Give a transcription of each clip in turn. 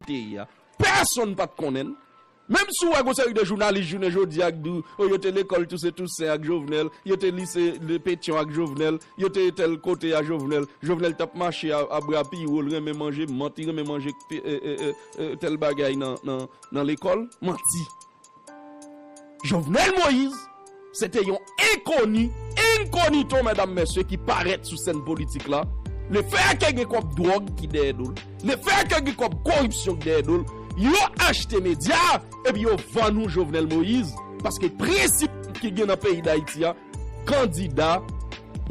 peyi a. Pèsonn pat konnen l. Menm si w wè gon seri de jounalis jounen jodi a k di w yo te lekòl Tousen Tousen ak Jovenel, yo te lise Petyon ak Jovenel, yo te tèl kote a Jovenel, Jovenel tap mache a bra pi wo, l renmen manje mant, li renmen manje tèl bagay nan lekòl, manti. Jovenel Moise se te yon enkoni, incognito medam mesye ki parèt sou sèn politik la, le fè a ke gen kòb dwòg ki dèyè do l, le fè a ke gen kòb koripsyon ki dèyè do l, yo achte medya a epi yo vann ou Jovenel Moise paske prensip ki gen nan peyi Dayiti a, Kandida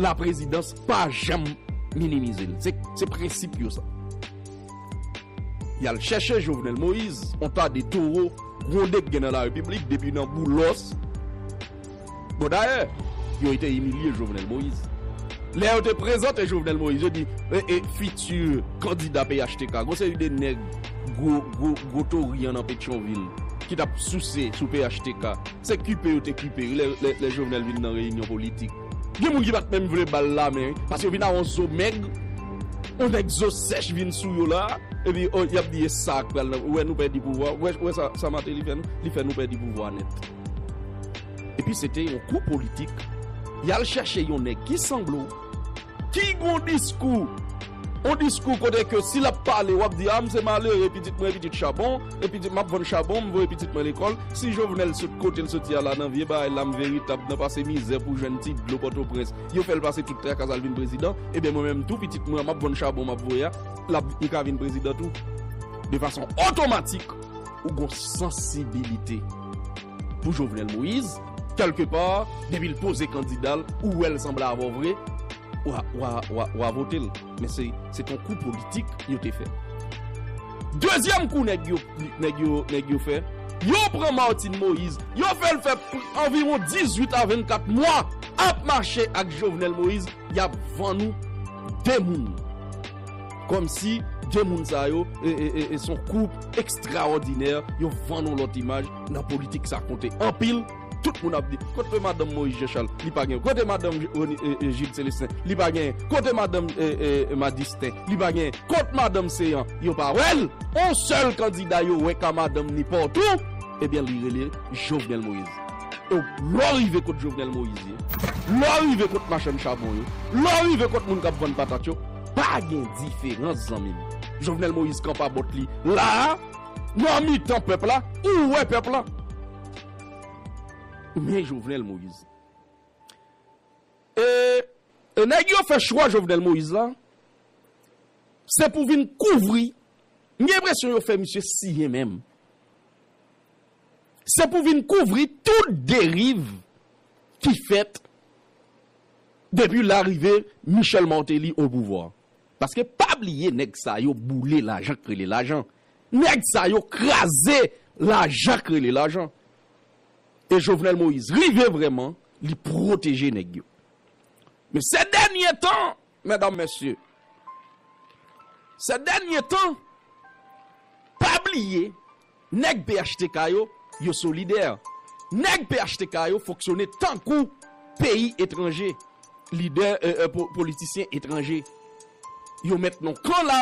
la prezidans pa janm minimize l. Se prensip yo sa. Y al chèche Jovenel Moïse, yon ta de toro gwonde k gen nan la repiblik depi nan Boulos. Bon dayè, yo te imilye Jovenel Moïse. Lè yo te prezante Jovenel Moïse, yo di e fiti kandida phtk. Gon seri de nèg gwo gwo gwo tori an nan Petyonvil ki t ap souse sou phtk. Se kipe yo te kipe yo lè Jovenel vin nan reyinyon politik. Gen moun ki pat menm vle bal la men paske yo vin a yon zo mèg, yon nèg zo sèch vin sou yo la epi oh yap di esa ak pral nan ou wè nou pèdi pouvwa ou wè sa Martelly fè nou li fè nou pèdi pouvwa nèt. Epi se te yon kou politik yal chèche yon nèg ki sanble w ki gon diskou. On diskou kote ke si lap pale wap di a m se malere pitit mwen pitit chabon e pitit map vann chabon m voye pitit mwen lekòl si jovenel sot kotel soti a la nan vye bagay la m veritab nan pase mizè pou jwenn ti dlo pòtoprens yo fèl pase tout trakas al vin prezidan ebyen mwen menm tou pitit mwen an map vann chabon map voye a lap li ka vin prezidan tou de fason otomatik ou gon sansibilite pou jovenel moïse. Quelque part depi l poze kandida l ou wè l sanble avè w vre w a vote l men se t on kou politik yo te fè. Dezyèm kou nèg yo fè yo pran Martine Moïse yo fè l fè anviwon 18 a 24 mwa ap mache ak Jovenel Moïse Yap vann ou 2 moun. Komsi 2 moun sa yo son koup ekstraòdinè yo vann ou lòt imaj nan politik sa konte anpil tout moun ap di kote madanm Moïse Jean Charles li pa gen kote madanm Gilles Celestin li pa gen kote madanm Madistin li pa gen kot madanm Céant yo pa wèl on sèl kandida yo wè ka madanm ni pòtou ebyen li rele Jovenel Moïse. Ew lèw rive kot Jovenel Moïse ye, lèw rive kot machann chabon yo, lèw rive kot moun kap vann patat yo, pa gen diferans zanmim. Jovenel Moïse kanpa bòt li la a nan mitan pèp la, ou wè pèp la. Men Jovenel Moïse. E nèg yo fè chwa Jovenel Moïse la, se pou vin kouvri, m gen enpresyon yo fè misye siyen menm. Se pou vin kouvri tout deriv ki fèt depi larive Michel Martelly au pouvoir. Paske pa bliye nèg sa yo boule lajan k rele lajan. Nèg sa yo kraze lajan k rele lajan. E Jovenel Moïse rive vrèman li pwoteje nèg yo. Men sè dènye tan Medam mesye Sè dènye tan pa bliye nèg phtk yo yo solidè nèg phtk yo fonksyone tankou peyi etranje lidè politisyen etranje yo met non kan la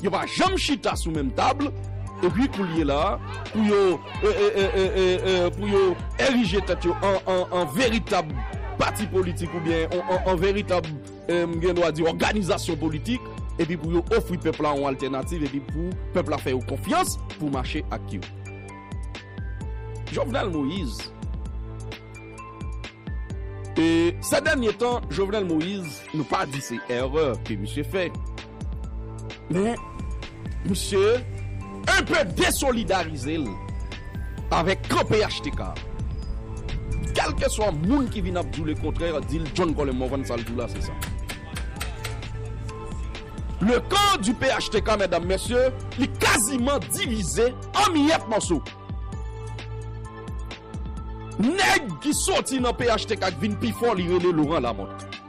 Yo pa janm chita sou menm tab epi koulye la pou yo pou yo erije tèt yo an veritab pati politik oubyen an veritab m gen dwa di òganizasyon politik epi pou yo ofri pèp la yon altènativ epi pou pèp la fè yo konfyans pou mache ak yo. Jovenel Moïse Sè dènye tan Jovenel Moïse nou pa di se èrè ke misye fè. Men, misye enpe desolidarize l avèk kan phtk a. Kèlkeswa moun ki vin ap di w lekontrè, di l John Colin Morvan sa l di w la se sa. Le camp du phtk, medam, mesye, li kaziman divize an miyèt mòso. Nèg ki soti nan phtk ki vin pi fò li rele Laurent Lamothe.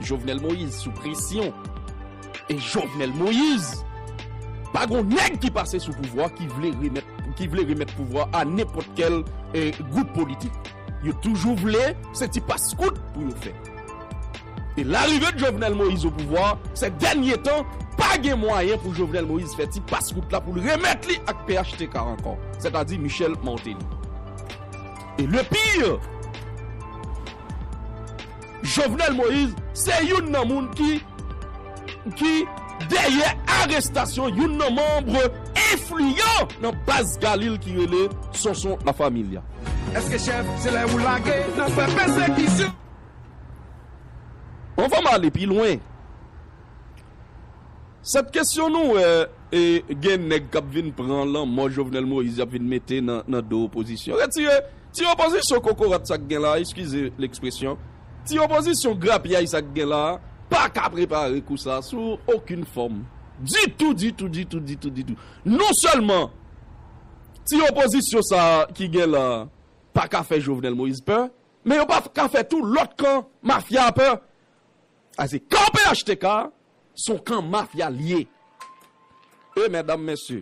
Jovenel Moïse sou presyon e Jovenel Moïse pa gon nèg ki pase sou pouvwa ki vle remèt ki vle remèt pouvwa a nenpòt kèl e gwoup politik yo toujou vle se ti pas kout pou yo fè e larive Jovenel Moïse o pouvwa sè dènye tan pa gen mwayen pou Jovenel Moïse fè ti pas kout la poul remèt li ak phtk ankò sètadi Michel Martelly. Et le pire! Jovenel Moïse se youn nan moun ki ki dèyè arestasyon youn nan manbre enfliyan nan baz Galil ki rele Sonson La Familia. Eske chef se lè ou lage nan fè pesekisyon. Anvan m ale pi lwen. Sèt kesyon nou wè e gen nèg kap vin pran lanmò Jovenel Moïse yap vin mete nan do opozisyon. Retire ti opozisyon kokorat sa k gen la, eskize lèkspresyon, ti opozisyon grapyay sa k gen la pa ka prepare kou sa sou okin fòm ditou ditou ditou ditou ditou. Non sèlman ti opozisyon sa ki gen la pa ka fè Jovenel Moïse pè men yo pa ka fè tou lòt kan mafya a pè. A se kan phtk son kan mafya liye e mèdam mèsye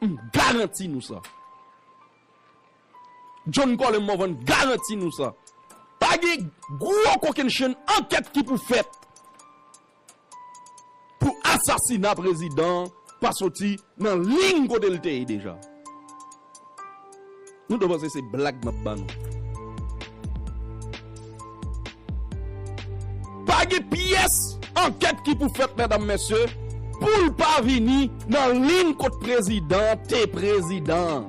m garanti nou sa John Colin Morvan garanti nou sa pa gen gwo kokennchenn ankèt ki pou fèt. pou asasina prezidan an pa soti nan liyn kote l te ye deja. Nou ta panse se blag map ba nou. Pa gen pyès ankèt ki pou fèt medam mesye pou l pa vini nan liyn kot prezidan an te prezidan an.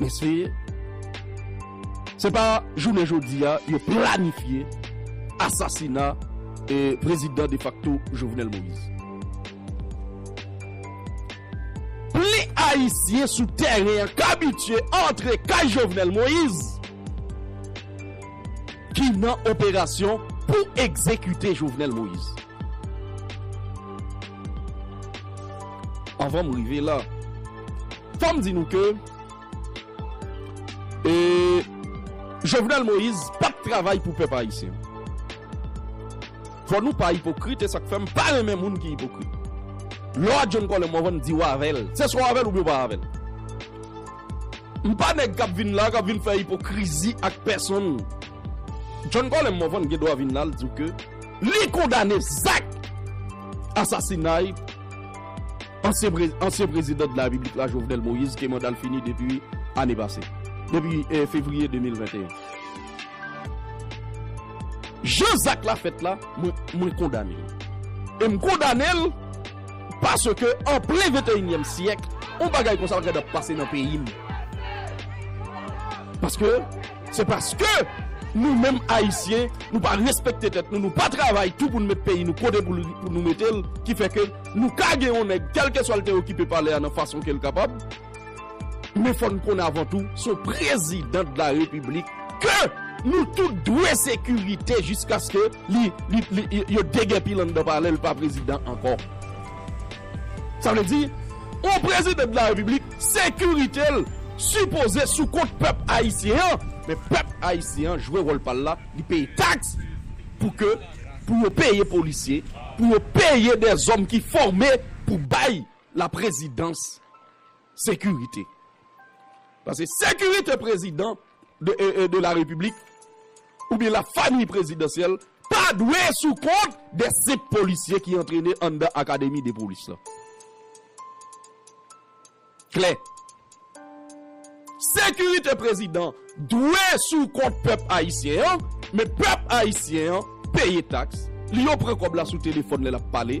Men se Se pa jounen jodi a yo planifye asasina prezidan defakto Jovenel Moïse. Plis ayisyen sou tèren an k abitye antre kay Jovenel Moïse ki nan operasyon pou egzekite Jovenel Moïse. Anvan m rive la, fò m di nou ke Jovenel Moïse pa t travay pou pèp ayisyen. Fò nou pa ipokrit, e sa k fè m pa renmen moun ki ipokrit. Lè w ak John Colem w avè m di w avè l, se swa w avè l oubyen w pa avè l. M pa nèg k ap vin la, k ap vin fè ipokrizi ak pèsonn. John Colem w avè m gen dwa vin la, l di w ke. Li kondane zak asasinay ansyen prezidan de la Repiblik la Jovenel Moïse ke manda l fini depi ane pase, depi fevriye 2021. Jan zak la fèt la, mwen kondane l. E m kondane l paske an plen venteyinyèm syèk yon bagay konsa pa ka ap pase nan peyi m. Paske. Se paske nou menm Ayisyen, nou pa respekte tèt nou, nou pa travay tou pou nou met peyi nou kote pou nou mete l ki fè ke nou ka gen yon nèg kèlkeswa l te okipe palè a nan fason ke l kapab. Men fò n konn avan tou, se yon prezidan de la repiblik ke nou tout dwe sekirite jiskaske li, li, yo degèpi l anndan palè, li pa prezidan ankò. Sa vle di, yon prezidan de la repiblik. Sekirite l sipoze sou kont pèp ayisyen an, men pèp ayisyen an jwe wòl pa l la, li peye taks pou ke pou yo peye polisye, pou yo peye dèzòm ki fòme pou bay laprezidans sekirite. Pase sekirite prezidan de la Repiblik oubyen la famiy prezidansyèl pa dwe sou kont de senp polisye ki antrene anndan akademi de polis la. Klè. Sekirite prezidan dwe sou kont pèp ayisyen an, men pèp ayisyen an peye taks li yo pran kòb la sou telefòn lè l ap pale,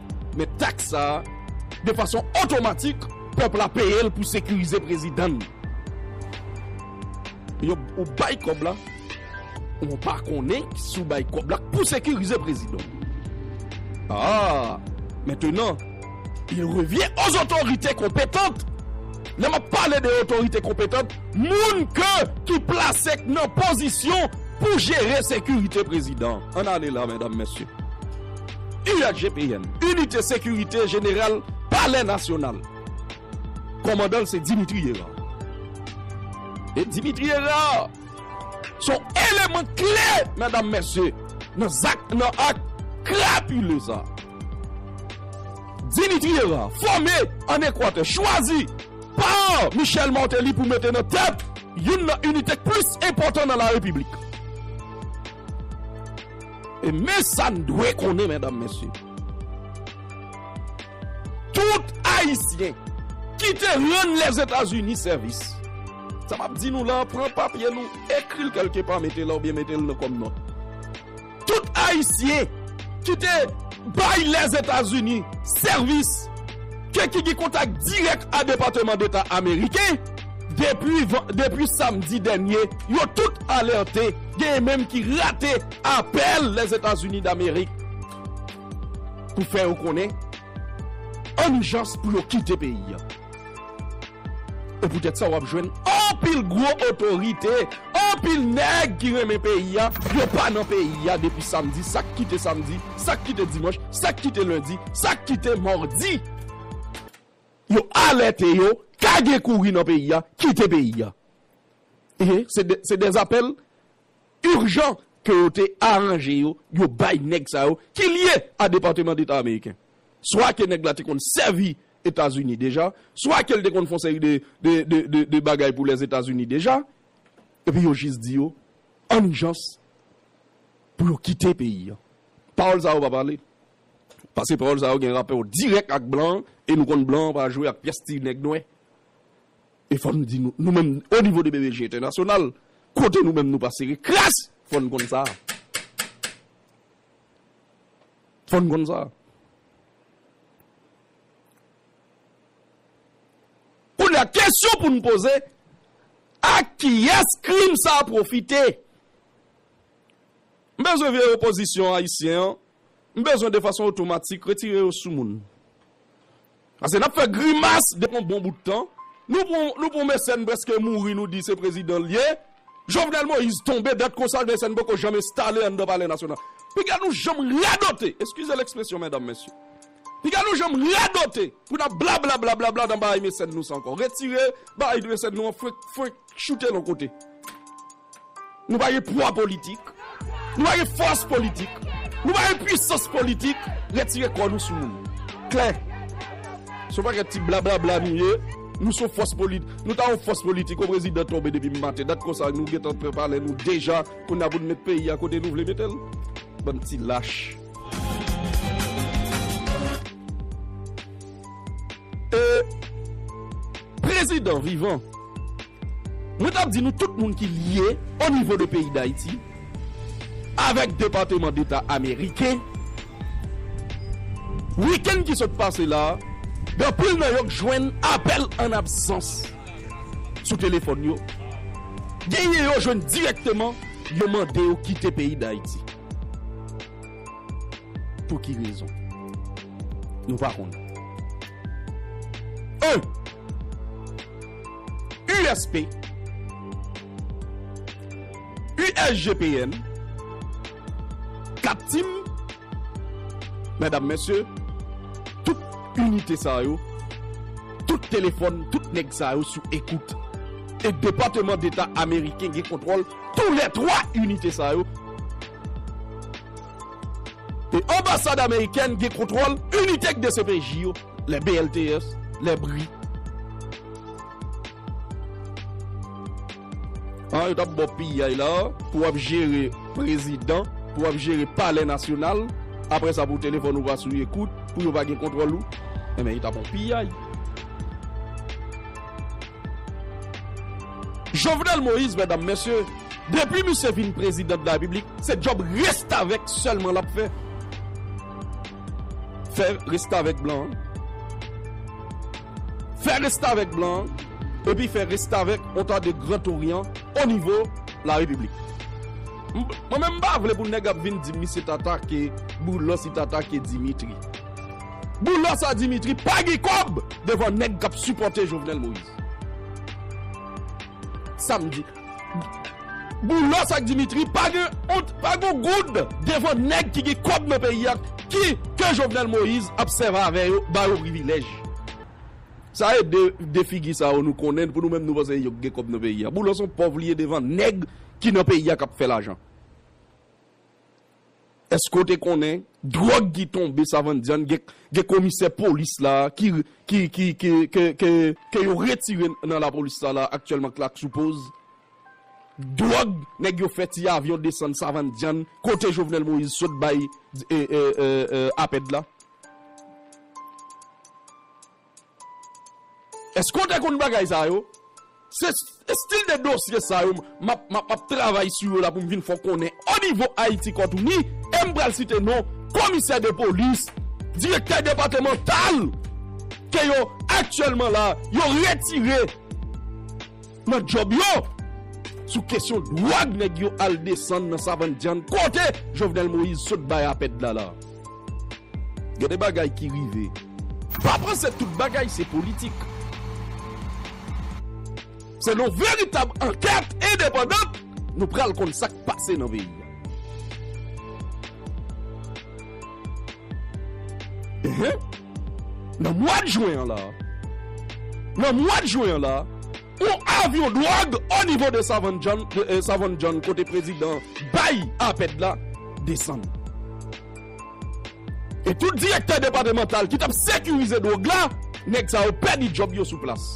Men taks sa a, de fason otomatik, pèp la peye l pou sekirize prezidan l. Yo ou bay kòb la, ou pa konnen si w bay kòb la pou sekirize prezidan w. Aa! Mentenan, il revyen o zotorite konpetant. Lè m ap pale de otorite konpetant, moun ke ki plase k nan pozisyon pou jere sekirite prezidan. An n ale la, medam, mesye. USGPN, Inite Sekirite Jeneral Palè Nasyonal. Kòmandan l se Dimitri Hérard. E Dimitri Hérard se yon eleman kle, medam mesye, nan zak, nan ak krapile sa. Dimitri Hérard fòme an Ekwatè, chwazi pa Michel Martelly pou mete nan tèt youn nan inite k plis enpòtan nan la Repiblik. E men sa n dwe konnen medam mesye, tout ayisyen ki te rann Lèzetazini sèvis, sa m ap di nou la, pran papye nou, ekri l kèlke pa mete la oubyen mete l nan kòm nòt, tout ayisyen ki te bay Lèzetazini sèvis ke ki gen kontak dirèk a Depateman Deta Ameriken, Depi samdi dènye, yo tout alète, genyen menm ki rate apèl Lèzetazini Damerik pou fè yo konnen an ijans pou yo kite peyi a. E poutèt sa w ap jwenn anpil gwo otorite, anpil nèg ki renmen peyi a, yo pa nan peyi a depi samdi, sa k kite samdi, sa k kite dimanch, sa k kite lendi, sa k kite madi. Yo alète yo ka gen kouri nan peyi a, kite peyi a. Ehe, se de apèl urjan ke yo te aranje yo, yo bay nèg sa yo ki lye a Departement d'Etat Ameriken. Swa ke nèg la te konn sèvi Etazini deja, swa ke li te konn fon seri de bagay pou Lèzetazini deja, epi yo jis di yo an ijans pou yo kite peyi a. Pawòl sa yo pa pale. Pase pawòl sa yo gen rapò dirèk ak blan e nou konn blan pa jwe ak pyès ti nèg nwè. E fò n di nou, nou menm o nivo de BBJ entènasyonal, kote nou menm nou pa sere kras, fò n konn sa. Fò n konn sa. Kounye a, kesyon pou n poze, ak kiyès krim sa pwofite? M bezwen vye opozisyon ayisyen an M bezwen de fason otomatik retire yo sou moun. Pase nap fè grimas depi yon bon bout tan. Nou pran yon mesèn preske mouri nou di se prezidan l ye. Jovenel Moïse tonbe dat konsa yon mesèn poko janm enstale anndan palè nasyonal. Piga nou janm radote, eskize l ekspresyon medam mesye. Piga nou janm radote pou nap blablablabla nan bagay mesèn nou sa ankò. Retire bagay mesèn nou an fwenk fwenk choute l yon kote. Nou pa gen pwa politik, nou pa gen fòs politik, nou pa gen pwisans politik, retire kò nou sou moun. Klè! Se yon pakèt ti blablabla nou ye, nou se yon fòs politik, nou ta yon fòs politik yon prezidan tonbe depi maten, dat konsa nou gentan pran palè nou deja, kounya pou nou met peyi a kote nou vle mete l? Bann ti lach. E prezidan vivan Mwen tap di nou tout moun ki lye o nivo de peyi dayiti avek depateman deta ameriken weekend ki sot pase la gen pil nan yo k jwenn apel an absans sou telefon yo genyen yo jwenn direkteman yo mande yo kite peyi dayiti pou ki rezon nou pa konnen 1. USP, USGPN, Kat Tim, medam mesye, tout inite sa yo, tout telefòn, tout nèg sa yo sou ekout. E Depateman Deta Ameriken gen kontwòl tou lè 3 inite sa yo. E Anbasad Amerikèn gen kontwòl inite k dcpj yo. Les BLTS, les bri. An yo tap baw piyay la pou wap jere prezidan, pou wap jere palè nasyonal, aprè sa pou telefòn ou va sou ekout, pou yo va gen kontwòl ou, enben yo ta baw piyay. Jovenel Moïse mèdam mèsye, depi misye vin prezidan de la repiblik, se djòb restavèk sèlman lap fè. Fè restavèk blan an. Fè restavèk blan an epi fè restavèk Ontar de Gran Toryan onivo Larepiblik. Mwen menm m pa vle pou nèg ap vin di m misye t atake Boulòs li t atake Dimitri. Boulòs a Dimitri pa gen kòb devan nèg k ap sipòte Jovenel Moïse. Sa m di. Boulos ak Dimitri pa gen ont, pa gon goud devan nèg ki gen kòb nan peyi a ki ke Jovenel Moïse ap sèv avè yo, ba yo privilèj. Sa e de de figi sa yo nou konnen pou nou menm nou panse se yo ki gen kòb nan peyi a. Boulos son pòv li ye devan nèg ki nan peyi a k ap fè lajan. Eske w te konnen drog ki tonbe savann dyann gen komisè polis la ke yo retire nan la polis la la aktyèlman k lak sou poz drog nèg yo fè ti avyon desann savann dyann kote Jovenel Moïse sot bay apèd la. Eske w te konn bagay sa yo? Se estil de dosye sa yo m ap travay sou yo la pou m vin fè w konnen o nivo Ayiti Kòtouni e m pral site non komisè de polis, direktè depatemantal ke yo aktyèlman la yo retire. Nan job yo! Sou kesyon dwòg nèg yo al desann nan savann dyann kote Jovenel Moïse sot bay apèd la la. Gen de bagay ki rive. Pa panse tout bagay se politik. Se nan veritab ankèt endepandant nou pral konn sak pase nan peyi a. Nan mwad jwen an la, nan mwad jwen an la, yon avyon dwòg o nivo de Savann John kote prezidan bay apèd la desann. E tout direktè depatemantal ki t ap sekirize dwòg la, nèg sa yo pèdi djòb yo sou plas.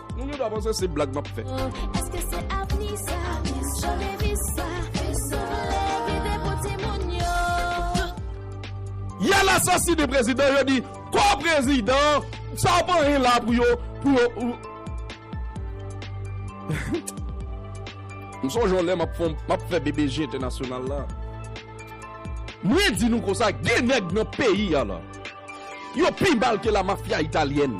Moun yo ta panse se blag map fè. Eske se avni sa, jan devis sa, nou vle rive pou timoun yo. Yal asasine prezidan yo di kò prezidan sa pa anyen la pou yo pou yo m sonje yon lè map fon map fè BBJ entènasyonal la mwen di nou konsa gen nèg nan peyi a la yo pi mal ke la mafya italyèn.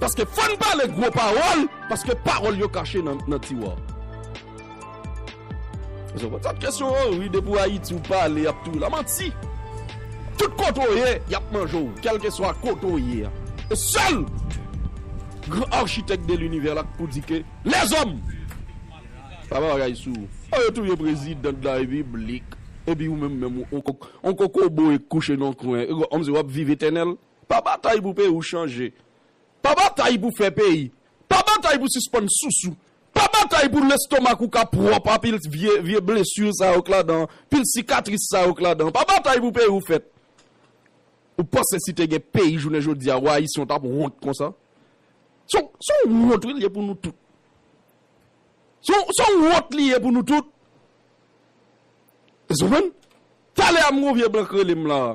Paske fò n pale gwo pawòl, paske pawòl yo kache nan tiwa. Jan pòt sa t kesyon an wi depi w ayiti w pale yap touye w la manti tout kote w ye yap manje w kèlkeswa kote w ye a e sèl gran architèk de linivè la k pou di ke lèzòm pa pa bagay sou oh yo touye prezidan de la repiblik epi ou menm menm on kokobe kouche nan yon kwen e kòmsi wap viv etènèl. Pa batay pou peyi w chanje. Pa batay pou fè peyi. Pa batay pou sispann sousou. Pa batay pou lestomak ou ka pwòp a pil vye blesur sa yo k ladan an, pil sikatris sa yo k ladan an. Pa batay pou peyi w fèt. Ou panse si te gen peyi jounen jodi a, wa Ayisyen w t ap wont konsa? Se yon wont wi l ye pou nou tout. Se yon wont li ye pou nou tout. Èske w konprann? Talè a m gen yon vye blan k rele m la a.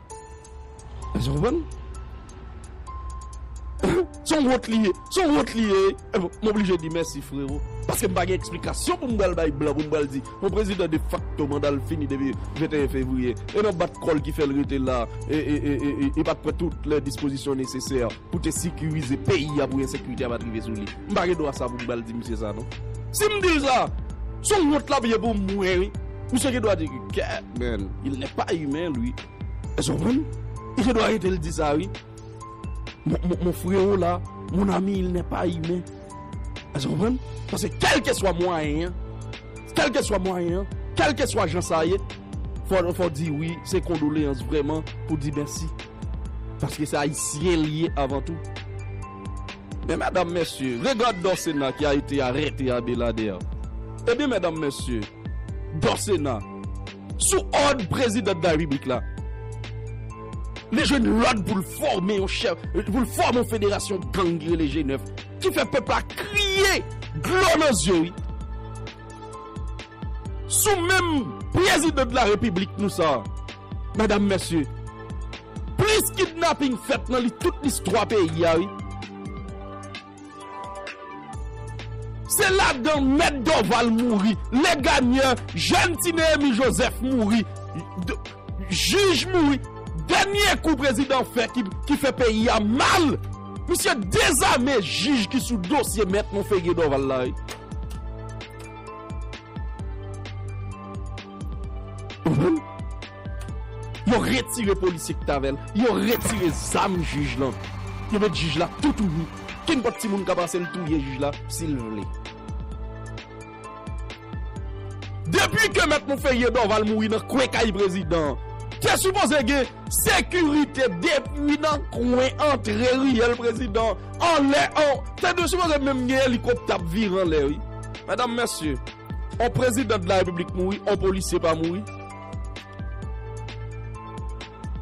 Èske nou konprann? Se yon wont li ye. Se yon wont li ye. M oblije di mèsi frero. Paske m pa gen eksplikasyon pou m pral bay blan pou m pral di yon prezidan defakto manda l fini depi 21 fevriye e nan bat kò l ki fè l rete la e e e e e pa t pran tout lè dispozisyon nesesè. pou te sikirize peyi a pou ensekirite a pat rive sou li. M pa gen dwa sa pou m pral di misye sa non. Si m di l sa, se yon wont l ap ye pou mwen wi. Misye gen dwa di ke kè men, il n'est pas humain lui. Èske w konprann? Li gen dwa rete l di sa wi. Mon freo la, mon ami il n'est pas humain. Èske w konprann? Paske kèlkeswa mwayen an, kèlkeswa mwayen an, kèlkeswa jan sa ye, fò w di wi, se kondoleyans vrèman pou di mèsi. Paske se ayisyen li ye avan tou. Men medam mesye, regard Dorcena ki a ete arete Abelader. Ebyen medam mesye, Dorcena, sou òd president de la Republique la, li jwenn lòd pou l fòme yon chèf, pou l fòme yon federasyon gang ki rele G9, ki fè pèp la kriye dlo nan zye wi. sou menm president de la repiblik nou sa madam mesye plis kidnapping fèt nan li tout listwa peyi a wi se ladan mèt Dorval mouri Legagneur jèn ti Nehemie Joseph mouri jij mouri dènye kou prezidan fè ki fè peyi a mal misye dezame jij ki sou dosye mèt Monferrier Dorval la wi. Yo retire polisye ki t avè l, yo retire zam jij lan. Yo met jij la tou tou nu. Kenpòt timoun ka pase l touye jij la si l vle. Depi ke Mèt Monferrier Dorval mouri nan kwen kay prezidan an, te sipoze gen sekirite depi nan kwen antre riyèl prezidan an, anlè an. Te dwe sipoze menm gen elikoptè ap vire anlè wi. Medam mesye, on president de la republik mouri, on polisye pa mouri.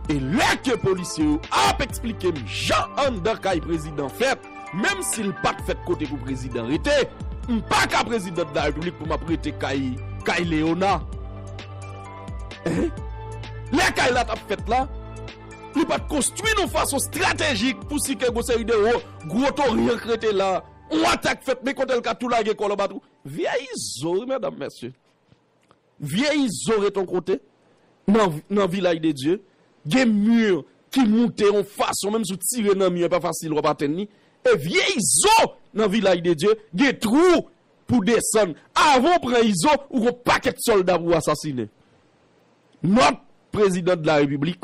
E lè ke polisye yo ap eksplike m jan anndan kay president fèt, menm si l pat fèt kote pou president rete, m pa ka president de la republik pou m ap rete kay kay Leona. Hein? Lè kay la tap fèt la, li pat konstwi non fason stratejik pou si ke gon seri de wo gwo toriank rete la. On atak fèt men kotel ka tou lage kòl anba twou. Vyè izo wi medam mesye. Vyè izo ret on kote nan vilaj de Dye. Gen mur ki moute on fason menm si w tire nan mur epa fasil wap atenn li. E vyè izo nan vilaj de Dye gen twou pou desann. Avan w pran izo ou gon pakèt solda pou asasine. Nòt prezidan de la repiblik.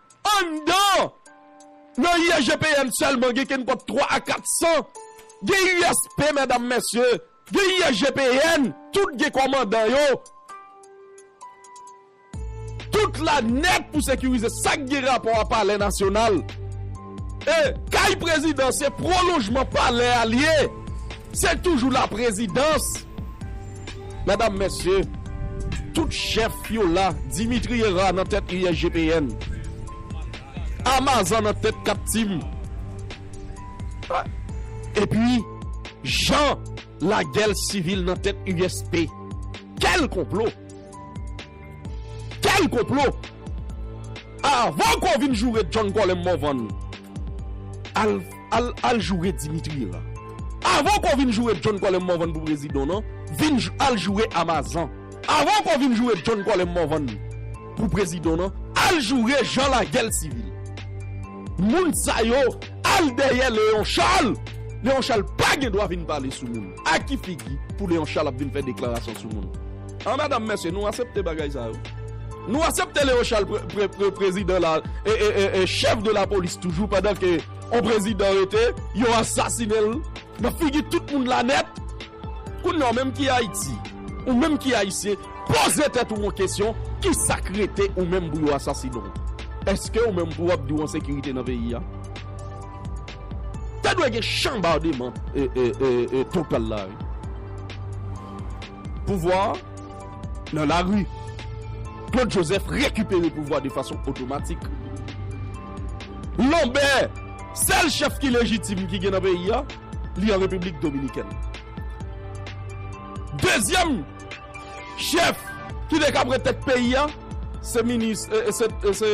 Anndan nan IEGPM sèlman gen kenpòt 3 a 400, gen USP medam mesye, gen IEGPN, tout gen kòmandan yo, tout la nèt pou sekirize sak gen rapò a palè nasyonal. E kay prezidan se pwolonjman palè a l ye. Se toujou la prezidans! Medam, mesye, tout chèf yo la, Dimitri Herard nan tèt USGPN, Amazan nan tèt Captim, epi Jean Laguel Civil nan tèt USP. Kèl konplo! Kèl konplo! Avan ke w vin joure John Colem Morvan, al. Al al joure dimitri la. Avan ko vin joure John kòlè morvan pou prezidan nan vin al joure amazan avan ko vin joure John kòlè morvan pou prezidan nan al joure jan lagel sivil moun sa yo al dèyè leon chal leon chal pa gen dwa vin pale sou moun a ki figi pou leon chal ap vin fè deklarasyon sou moun an medam mesye nou asepte bagay sa yo nou asepte leon chal prezidan la e e e chèf de la polis toujou pandan ke On prezidan rete, yo asasine l nan figi tout moun la nèt. Kounya w menm ki Ayiti, ou menm ki Ayisyen, poze tèt ou on kesyon, ki sa k rete ou menm pou yo asasine w? Eske ou menm pou w ap di w an sekirite nan peyi a? Te dwe gen chanbardeman total la wi. Pouvwa a nan lari. Claude Joseph rekipere pouvwa de fason otomatik. Lanbè, sèl chèf ki lejitim ki gen nan peyi a, li an Repiblik Dominikèn. Dezyèm chèf ki te ka pran tèt peyi a, se minis, se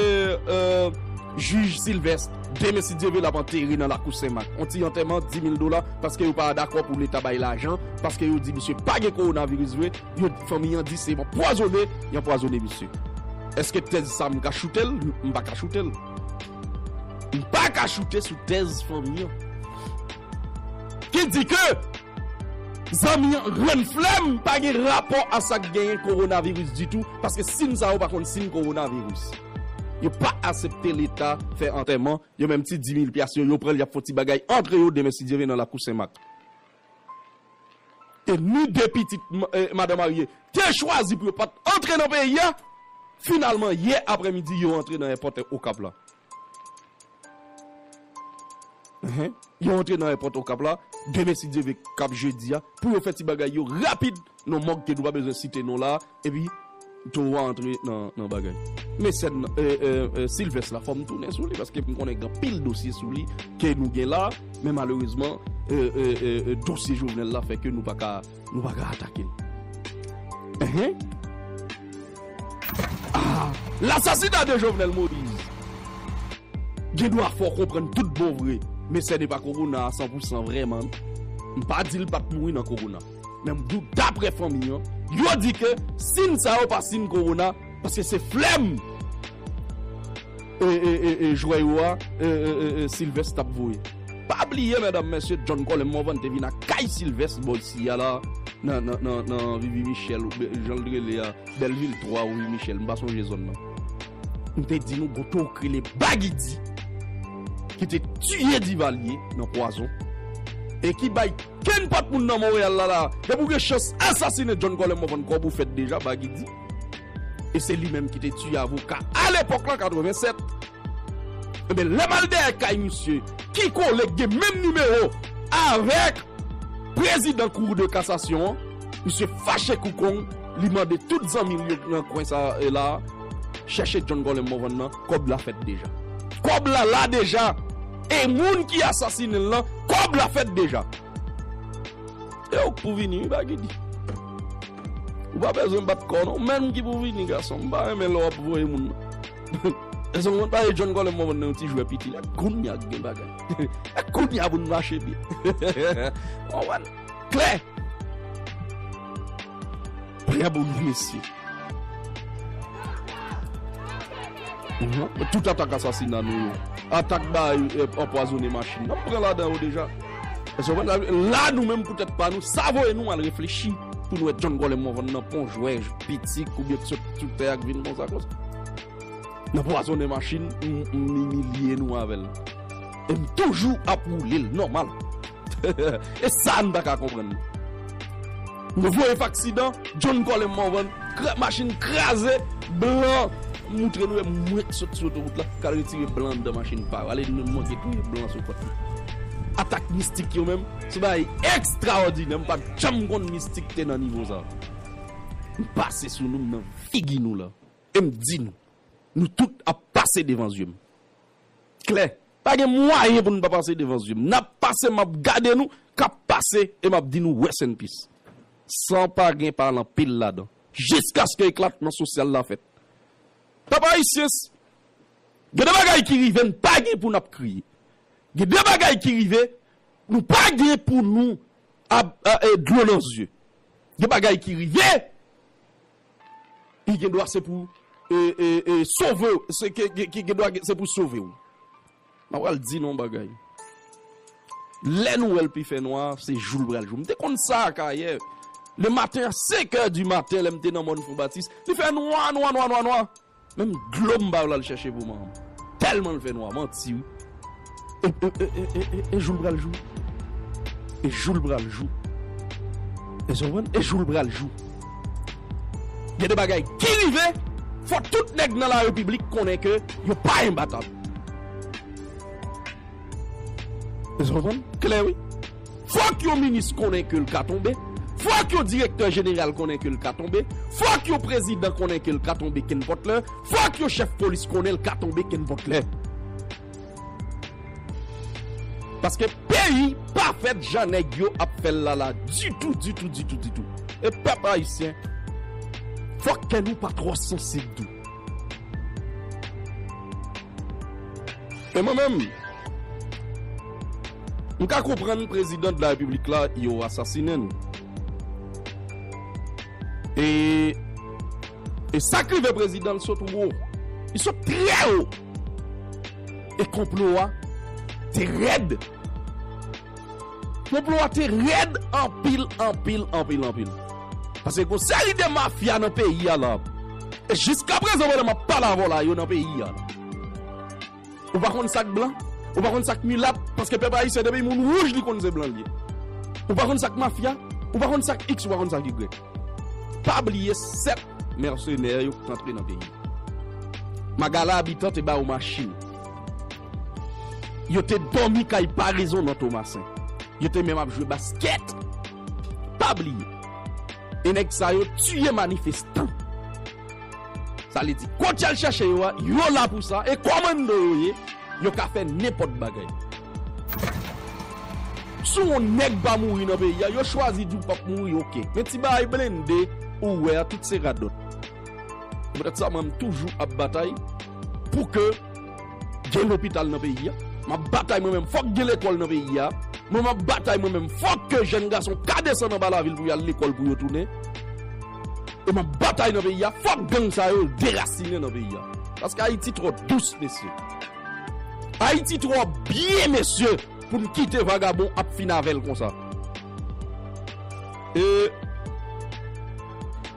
jij Sylvestre Demessi Dieuville ap antere nan lakou Senmak. Yon ti antèman 10 mil dola paske yo pa dakò pou Leta bay lajan, paske yo di misye pa gen kowonaviris vre, Yo t fanmi an di se yon pwazone yon pwazone misye eske tèz sa m ka choute l m pa ka choute l m pa ka choute sou tèz fanmi an ki di ke zanmi an rann flèm pa gen rapò a sa k genyen kowonaviris ditou paske sin sa yo pa konn sin kowonaviris yo pa asepte leta fè antèman yo menm ti dimil pyas yo yo pran l y ap fon ti bagay antre yo demen si Dye vle nan lakou senmak. e ni de pitit madan marye te chwazi pou yo pat antre nan peyi a, finalman yè aprè midi yo antre nan èpòt Okap la. Yo antre nan èpòt Okap la demen si Dye ve kap jedi a pou yo fè ti bagay yo rapid Non mòg ke nou pa bezwen site non la epi Towo a antre nan bagay. Mesèn Silvès la fòm tounen sou li paske m konnen gen anpil dosye sou li ke nou gen la men malerezman dosye Jovenel la fè ke nou pa ka nou pa ka atake l. Ehe. Aa L'assassinat de Jovenel Moise gen dwa fè w konprann tout bon vre mesèn epa Corona a san pou san vrèman m pa di l pat mouri nan Corona. Men bouda daprè fanmi an, yo di ke sin sa yo pa sin kowona paske se flèm e jwè yo a Sylvest tap voye. Pa bliye medam mesye John Colem Morvan te vin ak kay Sylvest bò isi a la nan Rivi Michel ou jan li rele a Belleville 3 ou Rivi Michel m pa sonje zòn nan. M te di nou gon tou k rele Bagy D ki te tiye Divalye nan pwazon e ki bay. Knpot moun nan Montreal la la depi ou gen chans asasine John Colem wap vann kob ou fèt deja bagy di e se li menm ki te tiye avoka a lepok lan 87 ebyen lèm al dèyè kay misye ki kole ki gen menm nimewo avek prezidan cour de cassation an misye fache kou kong li mande tout zanmil yo ki nan kwen sa e la chèche John Colem Morvan nan. Kob la fet deja. Kob la la deja e moun ki asasine l lan kob la fet deja. E ouk pou vini wi bagy di. Ou pa bezwen bat kò non. Ou menm ki pou vini gason. M pa renmen lè wap voye moun nan. Eske ou konn pale John Colem mwen wè nan yon ti jwè piti. E kounya k gen bagay. E kounya pou n mache byen. Ou konprann? Klè! Trè bon ti mesye. Tout atak asasina nou yo. Atak bay anpwazone machin. Nap pran ladan yo deja. Èske ou konprann? La nou menm pou tèt pa nou. Sa voye nou al reflechi. Pou nou wè John Golem Morvan nan pon jwè piti koubyen ki sot sou tè a ki vin konsa konsa. Nan pwazone machin. M imilye nou avèl. E m toujou ap woule l nòmal. E sa m pa ka konprann. Nou voye faksidan, John Colem Morvan, machin kraze, blan moutre nou e mwen k sot sou otowout la k al retire blan anndan machin pa yo. Ale nou manke touye blan sou kòt nou. Atak mistik yo menm, se bagay ekstraòdinè. M pa t janm konn mistik te nan nivo sa. M pase sou nou, m nan figi nou la. E m di nou, nou tout ap pase devan zye m. Klè, Pa gen mwayen pou nou pa pase devan zye m. N ap pase m ap gade nou k ap pase e m ap di nou rest in peace. San pa gen pale anpil ladan. Jiskaske eklatman sosyal la fèt. Pèp ayisyen s gen de bagay ki rive n pa gen pou n ap kriye. Gen de bagay ki rive nou pa gen pou nou ap dlo nan zye. Gen bagay ki rive. ki gendwa se pou sove w. M ap pral di nou yon bagay, lè nou wè l pi fè nwa, se jou l pral jou. M te konn sa Akayè, le maten a senkè di maten, lè m te nan mòn Fonbatis, li fè nwa, nwa, nwa, nwa, nwa. Menm dlo m ba yo l al chèche pou manman m. Tèlman l fè nwa. Manti wi. E e e jou l pral jou. E jou l pral jou. Èske w konprann? E jou l pral jou. Gen de bagay ki rive, fò tout nèg nan larepiblik konnen ke yo pa enbatab. Èske w konprann? Klè wi. Fòk yon minis konnen ke l ka tonbe, fòk yon direktè jeneral konnen ke l ka tonbe, fòk yon prezidan konnen ke l ka tonbe kenpòt lè, fòk yon chèf polis konnen l ka tonbe kenpòt lè. Paske peyi pa fèt jan nèg yo ap fè l la la ditou, ditou, ditou, ditou. E pèp ayisyen, fòk kè nou pa twò sansib tou. E mwen menm, m ka konprann prezidan de la repiblik la yo asasinen l. E e sa k rive prezidan l sot wo. Li sot trè wo. E konplo a te rèd. Konplo a te rèd anpil anpil anpil anpil. Pase gon seri de mafya nan peyi a la. E jiska prezan pandan map pale avèw la yo nan peyi a la. Ou pa konn sak blan, ou pa konn sak milat, paske pèp ayisyen depi moun wouj li konn se blan li ye. Ou pa konn sak mafya, ou pa konn sak iks ou pa konn sak igrèk. Pa bliye 7 mèsenè yo k t antre nan peyi. Magala Abitan te ba yo machin. Yo te dòmi kay Paraison nan Tomasen. Yo te menm ap jwe baskèt. Pa bliye, e nèg sa yo tiye manifestan. Sa vle di, kont y al chèche yo a, yo la pou sa, e kòmando yo ye, yo ka fè nenpòt bagay. Si w yon nèg pa mouri nan peyi a, yo chwazi di w pap mouri, ok. Men ti bagay blende ou wè a, tout se radòt. M ret sa man toujou ap batay pou ke gen lopital nan peyi a. Map batay mwen menm fok gen lekol nan peyi a. Mwen map batay mwen menm fok ke jèn gason ka desann anba lavil pou yal lekol pou yo tounen. E map batay nan peyi a fok gang sa yo derasinen nan peyi a. Paske Ayiti tro dous mesye. Ayiti tro byen mesye pou n kite vagabon ap fin avel konsa. E.